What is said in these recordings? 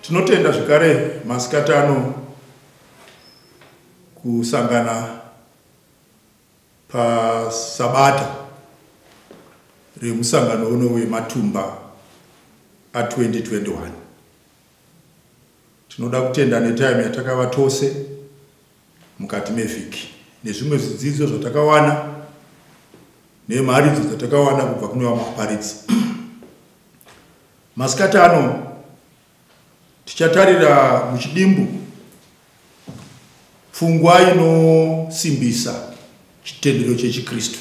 tinotenda zvekare masikati ano kusangana pasabata remusangano uno wematumba a2021 tinoda kutenda netime yatakava tose mukati mevhiki nezvimwe zvidzidzo zvatakawana nemharidzo dzatakawana kubva kune vamwe vaparidzi masikati ano tichatarira muchidimbu pfungwa inosimbisa chitendero chechikristu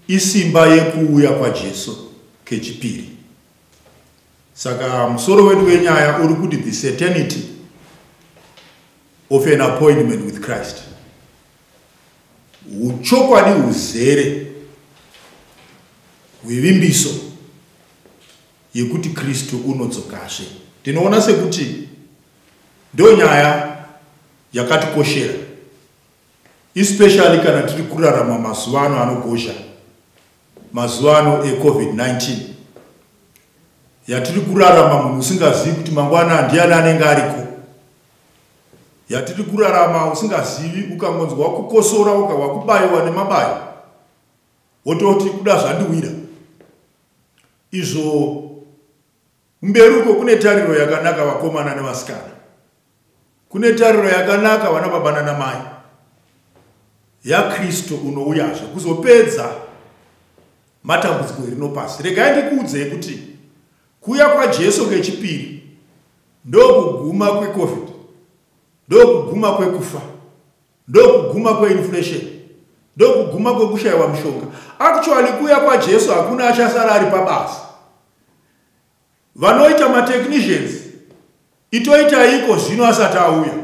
isimba yekuuya kwajesu kechipiri saka musoro wedu wenyaya uri kuti the certainty of an appointment with christ uchokwadi uzere hwevimbiso yekuti kristu unodzokazve tinoona sekuti ndo nyaya yakatikoshera especially kana tiri kurarama mazuva ano anogozha mazuva ano ecovid-19 yatiri kurarama munhu usingazivi kuti mangwana ndiani anenge ariko yatiri kurarama usingazivi ukangonzwa wakukosora uka wakubayiwa nemabayo wototi kuda zvandiwira izvo Kumberi uko kune tariro yakanaka vakomana nevasikana. Kune tariro yakanaka vana baba nana mai. YaKristu unouyazve kuzopedza matambudziko erino pasi. Regai ndikuudzei kuti kuya kwaJesu kechipiri ndokuguma kweCovid. Ndokuguma kwekufa. Ndokuguma kweinflation. Ndokuguma kwekushaiwa mushonga. Actually kuya kwaJesu hakuna achasara ari pabasa. vanoita matechnicians itoitaiko zvino asati auya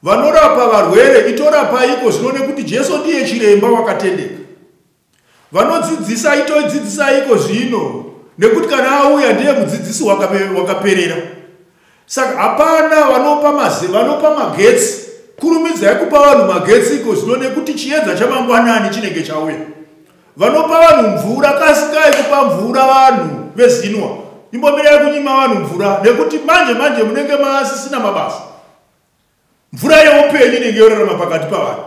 vanorapa varwere itorapaiko zvino nekuti jesu ndiye chiremba wakatendeka vanodzidzisa itodzidzisaiko zvino nekuti kana auya ndiye mudzidzisi wakaperera waka saka hapana vanopa maze vanopa magetsi kurumidzai kupa vanhu magetsi iko zvino nekuti chiedza chamangwanani chinenge chauya vanopa vanhu mvura kasikai kupa mvura vanhu vezinwa imbomirai kunyima vanhu mvura nekuti manje manje munenge maasisina mabasa mvura yeupenyu inenge yorarama pakati pavanhu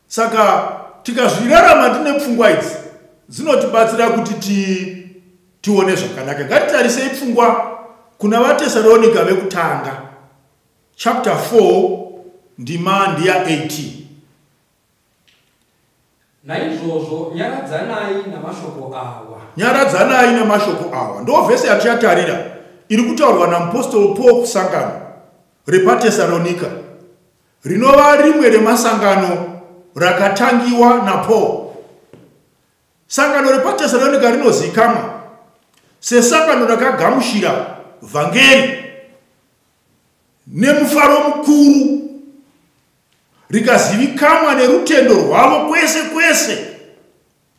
saka tikazvirarama tine pfungwa idzi dzinotibatsira kuti ti tione zvakanaka ngatitarisei pfungwa kuna vatesaronika vekutanga chapter 4 ndima ndiya 18 Naizvozvo nyaradzanai namashoko awa. Nyaradzanai namashoko awa. Ndo vhese yatichatarira iri kutaurwa namupostori Paul kusangano repaTesaronika rinova rimwe remasangano rakatangiwa naPaul. Sangano repaTesaronika rinozikamwa sesangano rakagamushira vhangeri nemufaro mukuru. rikazivikamwa nerutendo rwavo kwese kwese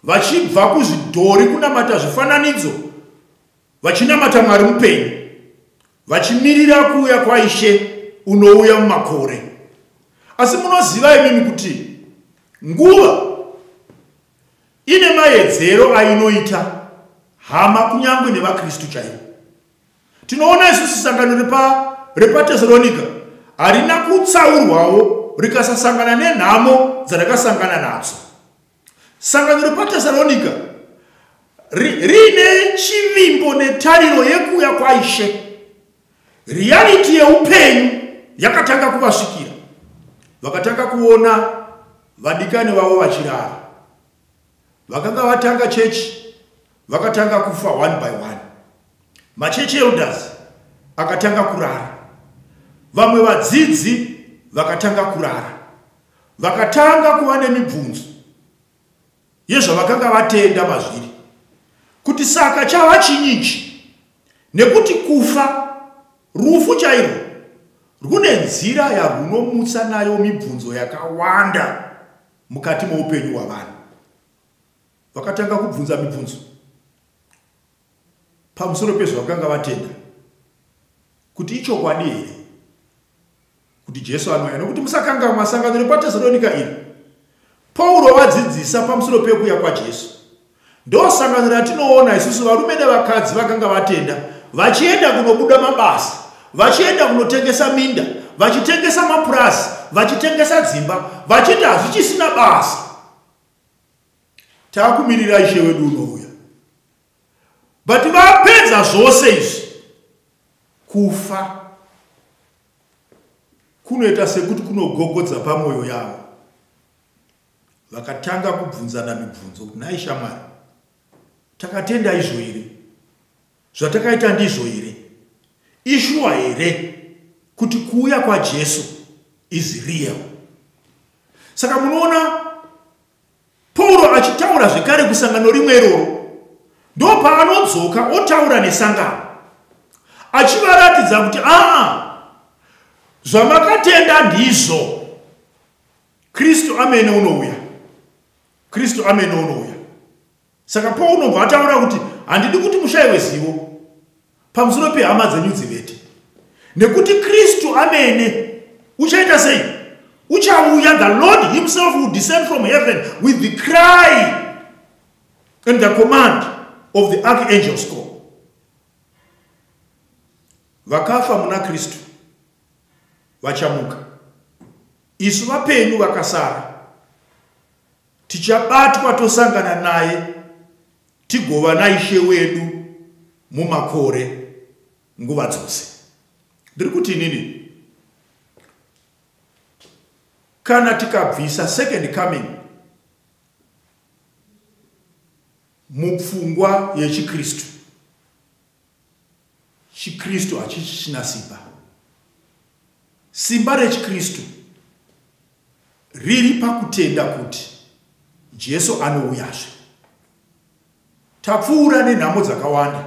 vachibva kuzvidhori kunamata zvifananidzo vachinamata mwari mupenyu vachimirira kuuya kwaishe unouya mumakore asi munoziva imimi kuti nguva ine maedzero ainoita hama kunyange nevakristu chaivo Tinoona isusu sangano repa repaTesalonika harina kutsaurwawo rikasasangana nenhamo dzarakasangana nadzo. Sangano repaTesalonika riine chivimbo netariro yekuuya kwaishe. Riyariti yeupenyu yakatanga kuvasvikira, vakatanga kuona vadikani vavo vachirara. vakanga vatanga chechi vakatanga kufa one by one machechi elders akatanga kurara vamwe vadzidzi vakatanga kurara vakatanga kuva nemibvunzo yezvavakanga vatenda mazviri kuti saka chava chinyichi nekuti kufa rufu chairwo rwune nzira yarwunomutsa nayo mibvunzo yakawanda mukati moupenyu hwavanhu vakatanga kubvunza mibvunzo pamusoro pezvavakanga vatenda kuti ichokwadi here kuti jesu anouya nokuti musakanga masangano repatesaronika iri pauro vadzidzisa pamusoro pekuuya kwajesu Ndosangano ratinoona isusu varume nevakadzi vakanga vatenda vachienda kunobuda mabasa, vachienda kunotengesa minda, vachitengesa mapurazi, vachitengesa dzimba, vachiti hazvichisina basa. Takumirira ishe wedu unouya. But vapedza zvose izvi kufa kunoita sekuti kunogogodza pamwoyo yavo vakatanga kubvunzana mibvunzo kuti nhai shamwari takatenda izvo here zvatakaita ndizvo here ishuwa here kuti kuuya kwajesu is real saka munoona pauro achitaura zvekare kusangano rimwe iroro ndopaanodzoka otaura nesangano achivaratidza kuti aa zvamakatenda ndizvo kristu amene unouya kristu amene unouya saka paunobva ataura kuti handidi kuti mushaiwe zivo pamusoro pehama dzenyu dzivete nekuti kristu amene uchaita sei uchauya the lord himself will descend from heaven with the cry and the command of the archangel score vakafa muna kristu vachamuka Isu vapenyu vakasara tichabatwa tosangana naye tigova naishe wedu mumakore nguva dzose ndiri kuti inini kana tikabvisa second coming mupfungwa yechikristu chikristu hachichina simba simba rechikristu riri pakutenda kuti jesu anouyazve tapfuura nenhamo dzakawanda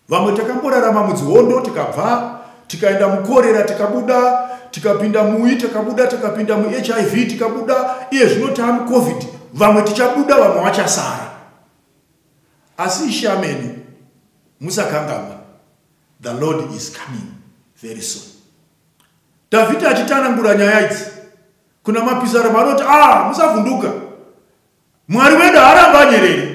vamwe takamborarama mudzihondo tikabva tikaenda mukorera tikabuda tikapinda muyi takabuda takapinda muhiv tikabuda iye zvino taamucovid vamwe tichabuda vamwe vachasara asi ishe amene musakangamwa the lord is coming very soon dhavhidhi achitanangura nyaya idzi kuna mapisarema anoti a ah, musavhunduka mwari wedu haramba anyerere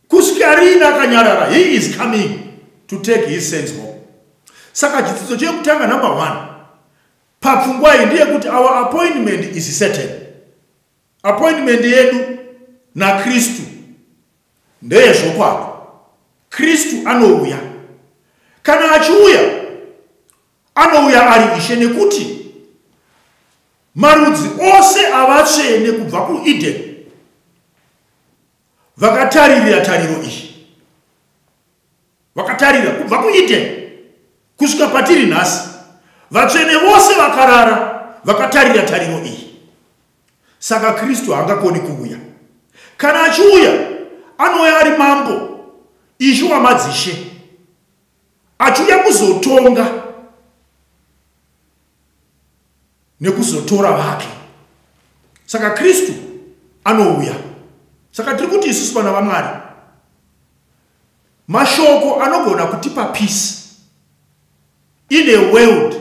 kusvika riini akanyarara he is coming to take his sense home saka chidzidzo chekutanga number one papfungwa iyi ndeyekuti our appointment is certain Appointment yedu naKristu ndeyezvokwadi. Kristu anouya. Kana achiuya, anouya ari ishe nekuti marudzi ose avatsvene kubva kuEden vakataririra tariro iyi. vakatarira kubva kueden kusvika patiri nhasi vatsvene vose vakarara vakatarira tariro iyi saka kristu haangakoni kuuya kana achiuya anouya ari mambo ishe wamadzishe achiuya kuzotonga nekuzotora vake saka kristu anouya saka tiri kuti isusu vana vamwari Mashoko anogona kutipa peace in a world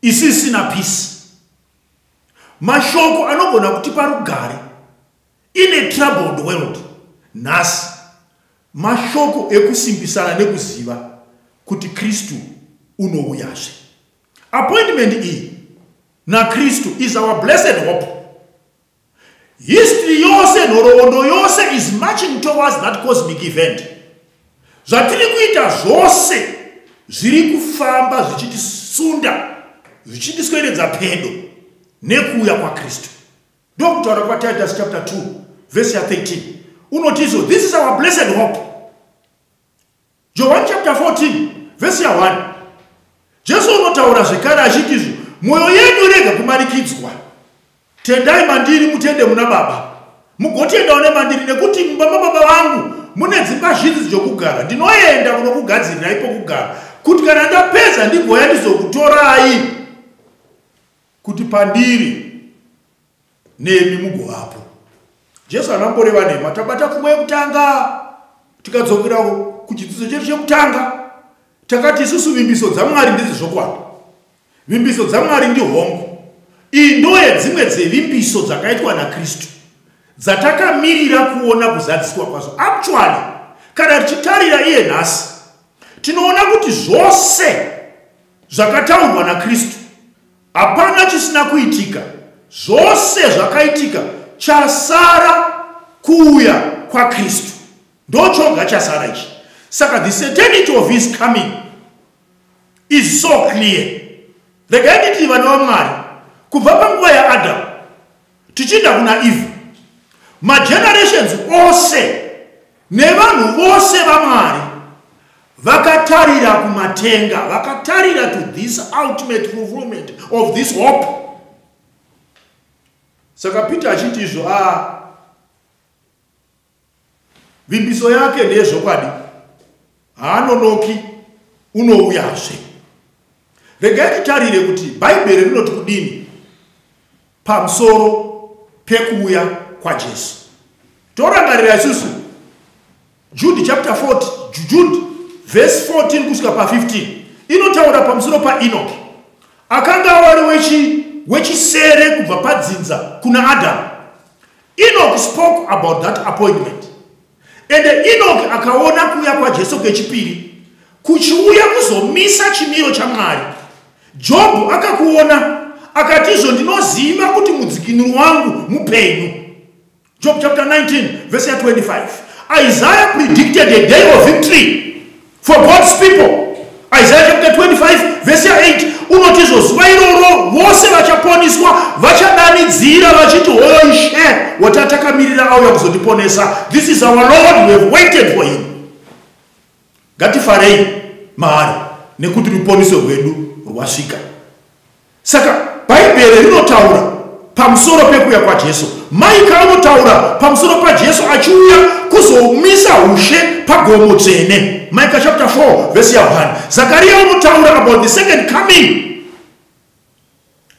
isisina peace. Mashoko anogona kutipa rugare in a troubled world nhasi. Mashoko ekusimbisana nekuziva kuti Kristu unouyazve. Appointment iyi naKristu is our blessed hope. history yose nhoroondo yose is marching towards that cosmic event zvatiri kuita zvose zviri kufamba zvichitisunda zvichitisweredza pedo nekuuya kwakristu ndokutaura kwatitus chapter 2 vese ya 13 unotizo this is our blessed hope johani chapter 14 vhesi ya1 jesu unotaura zvekare achiti izvo mwoyo yenyu rega kumanikidzwa tendai mandiri mutende muna baba mugotendawo nemandiri nekuti mumba mababa vangu mune dzimba zhinji dzokugara ndinoenda kunokugadzirirai pokugara kuti kana ndapedza ndigoya ndizokutorai kuti pandiri nemi mugovapo jesu hana mboreva nema tabata pfuma yekutanga tikadzokera kuchidzidzo chedu chekutanga takati isusu vimbiso dzamwari ndizi zvokwadi vimbiso dzamwari ndihongo iyi ndo yedzimwe dzevimbiso dzakaitwa nakristu dzatakamirira kuona kuzadziswa kwazo actually kana tichitarira iye nhasi tinoona kuti zvose zvakataurwa nakristu Hapana chisina kuitika, zvose zvakaitika, chasara kuuya kwaKristu. Ndochoga chasara ichi. Saka the certainty of his coming is so clear. Regai nditi vana vaMwari kubva panguva yaAdam tichienda kuna Eve, magenerations ose Nevanhu vose vaMwari vakatarira kumatenga, vakatarira to this ultimate fulfillment of this hope. Saka Peter achiti izvo a ah, vimbiso yake ndeyezvokwadi. haanonoki unouyazve regai titarire kuti bhaibheri rinoti kudini pamusoro pekuuya kwajesu torangarira isusu jude chapter 4 jude vhesi 14 kusvika pa15 inotaura pamusoro paenoki akanga wari wechisere kubva padzinza kuna adamu enoki spoke about that appointment Ende Enoki akaona kuuya kwaJesu kwechipiri kuchiuya kuzomisa chimiro chaMwari. Jobhu akakuona akatizvo ndinoziva kuti mudzikinuri wangu mupenyu. Job chapter 19 verse 25. Isaiah predicted a day of victory For God's people, Isaiah chapter 25 verse 8 unoti izvo zuva iroro vose vachaponiswa vachadanidzira vachiti hoyo ishe watatakamirira auya kuzotiponesa this is our lord we have waited for him ngatifarei maari nekuti ruponiso rwedu rwasvika saka bhaibheri rinotaura pamusoro pekuuya kwajesu maika anotaura pamusoro pajesu achiuya kuzomisa ushe pagomo dzvene maika chapter 4 vhesi ya 1 zakariya anotaura about the second coming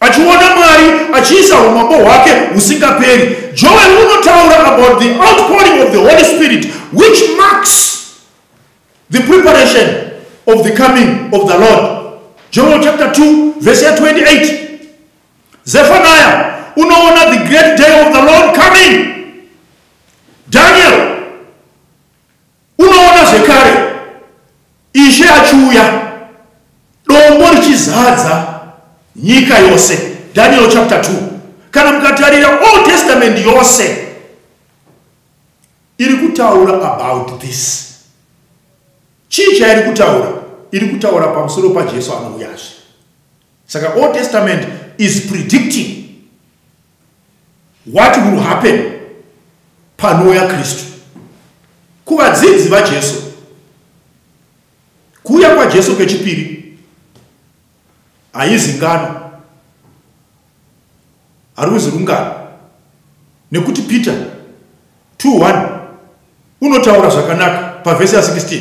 achiona mwari achiisa umambo hwake husingaperi joel unotaura about the outpouring of the holy spirit which marks The preparation of the coming of the Lord. Joel chapter 2 verse 28. Zephaniah unoona the great day of the Lord coming. Daniel unoona zvekare ishe achiuya dombo richizadza nyika yose daniel chapter 2 kana mukatarira old testament yose iri kutaura about this chii chairi kutaura iri kutaura pamusoro pajesu anouyazve saka old testament is predicting what will happen panouya kristu kuvadzidzi vajesu kuuya kwajesu kechipiri haizi ngano haruzi rungano nekuti peter 21 unotaura zvakanaka pavhesi ya 16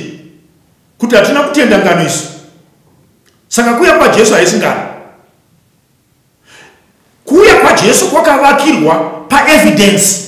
kuti hatina kutenda ngano isu saka kuuya kwajesu haisi ngano kuuya kwajesu kwakavakirwa paevidence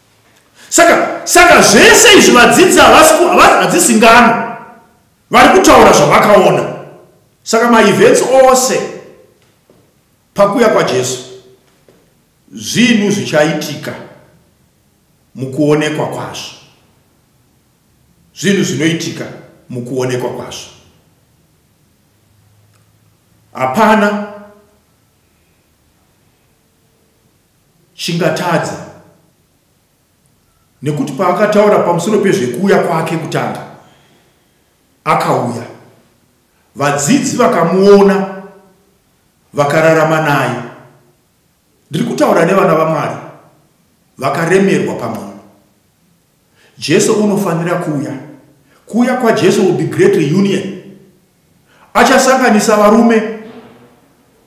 saka saka zvese izvi vadzidzi havasi hadzisi ngano vari kutaura zvavakaona saka maevents ose pakuya kwajesu zvinhu zvichaitika mukuonekwa kwazvo zvinhu zvinoitika mukuonekwa kwazvo hapana chingatadza nekuti paakataura pamusoro pezvekuuya kwake kutanga akauya vadzidzi vakamuona vakararama naye ndiri kutaura nevana vamwari vakaremerwa pamwe Jesu unofanira kuuya. Kuuya kwaJesu will be great reunion. Achasanganisa varume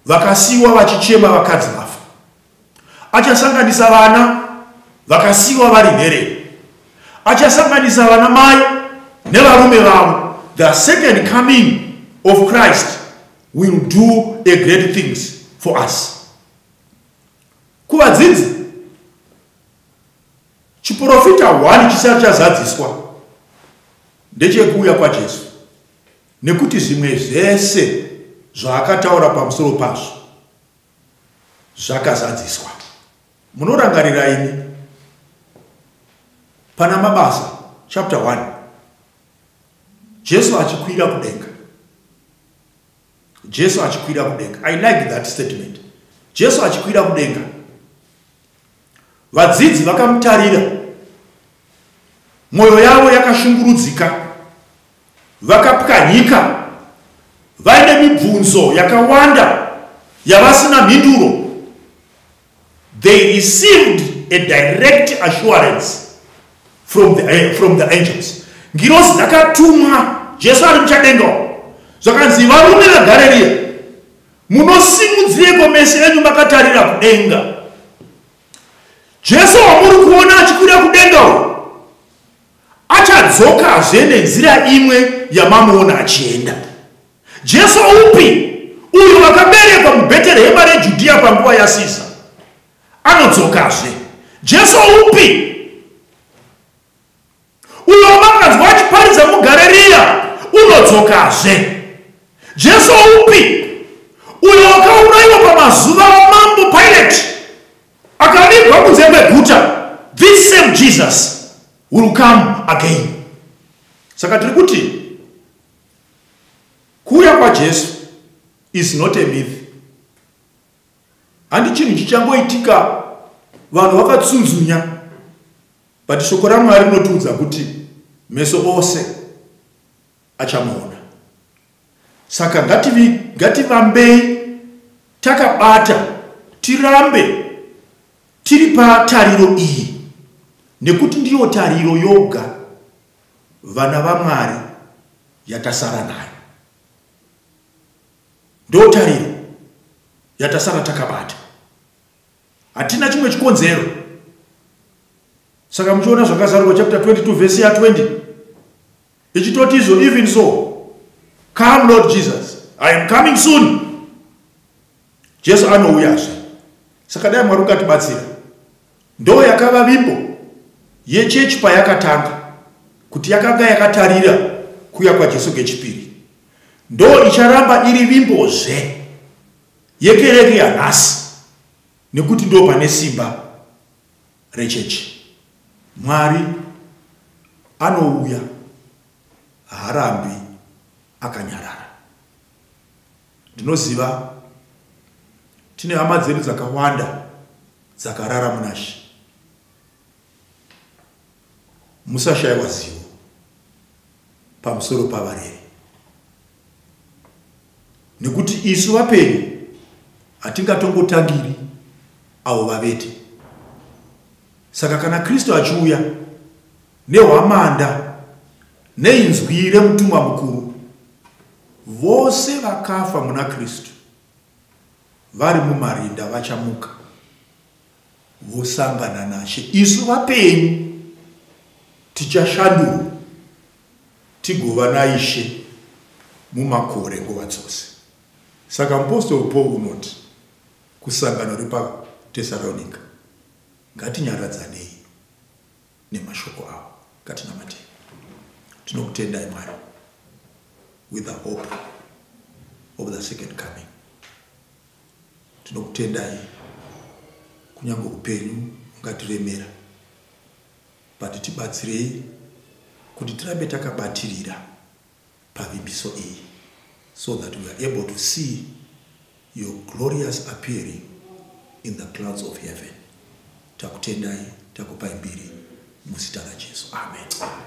vakasiwa vachichema vakadzi vafa. Achasanganisa vana vakasiwa vari nherere. Achasanganisa vana mai nevarume vavo. The second coming of Christ will do a great things for us. Kuvadzidzi Chiporofita hwani chisati chazadziswa ndechekuuya kwaJesu, nekuti zvimwe zvese zvaakataura pamusoro pazvo zvakazadziswa. Munorangarira ini pana Mabasa chapter 1 Jesu achikwira kudenga. Jesu achikwira kudenga. I like that statement. Jesu achikwira kudenga. Vadzidzi vakamutarira, mwoyo yavo yakashungurudzika, vakapwanyika, vaine mibvunzo yakawanda yavasina mhinduro. They received a direct assurance from the, eh, from the angels ngirozi dzakatumwa jesu ari muchadenga zvakanzi varume vegareriya Munosimudzireiko meso enyu makatarira kudenga? Jesu wamuri kuona achikwira kudenga uyu achadzokazve nenzira imwe yamamuona achienda. Jesu upi uyo wakaberekwa muBheterehema reJudhiya panguva yaSiza anodzokazve? Jesu upi uyo wamanganzwa achiparidza mugareriya unodzokazve jesu upi uyo wakaurayiwa pamazuva amambo pirate akavigwa kunze kweguta this same jesus will come again saka tiri kuti kuuya kwajesu is not a myth handi chinhu chichangoitika vanhu vakatsunzunya but shoko ramwari rinotiudza kuti meso ose achamuona saka ngativambei takabata tirambe tiri patariro iyi nekuti ndiyo tariro yoga vana vamwari yatasara nayo ndotariro yatasara takabata hatina chimwe chikonzero saka muchiona zvakazarurwa chapter 22 vhesi ya 20 ichitoti izvo even so come lord jesus i am coming soon jesu anouyazve saka dai mwari ukatibatsira ndo yakava vimbo yechechi payakatanga kuti yakanga yakatarira kuya kwajesu kechipiri ndo icharamba iri vimbozve yekereke yanhasi nekuti ndo pane simba rechechi mwari anouya haarambi akanyarara ndinoziva tine hama dzedu dzakawanda dzakarara munashe musashaiwa zivo pamusoro pavareri nekuti isu vapenyu hatingatongotangiri avo vavete saka kana kristu achiuya nehwamanda neinzwi remutumwa mukuru vose vakafa muna kristu vari mumarinda vachamuka vosangana nashe isu vapenyu tichashandurwa tigova naishe mumakore nguva dzose saka mupostori paul unoti kusangano repatesaronika ngatinyaradzanei nemashoko avo ngatinamatei tinokutendai mwari with the hope of the second coming tinokutendai kunyange upenyu ungatiremera but tibatsirei kuti tirambe takabatirira pavimbiso iyi so that we are able to see your glorious appearing in the clouds of heaven takutendai takupai mbiri muzita rajesu amen, amen.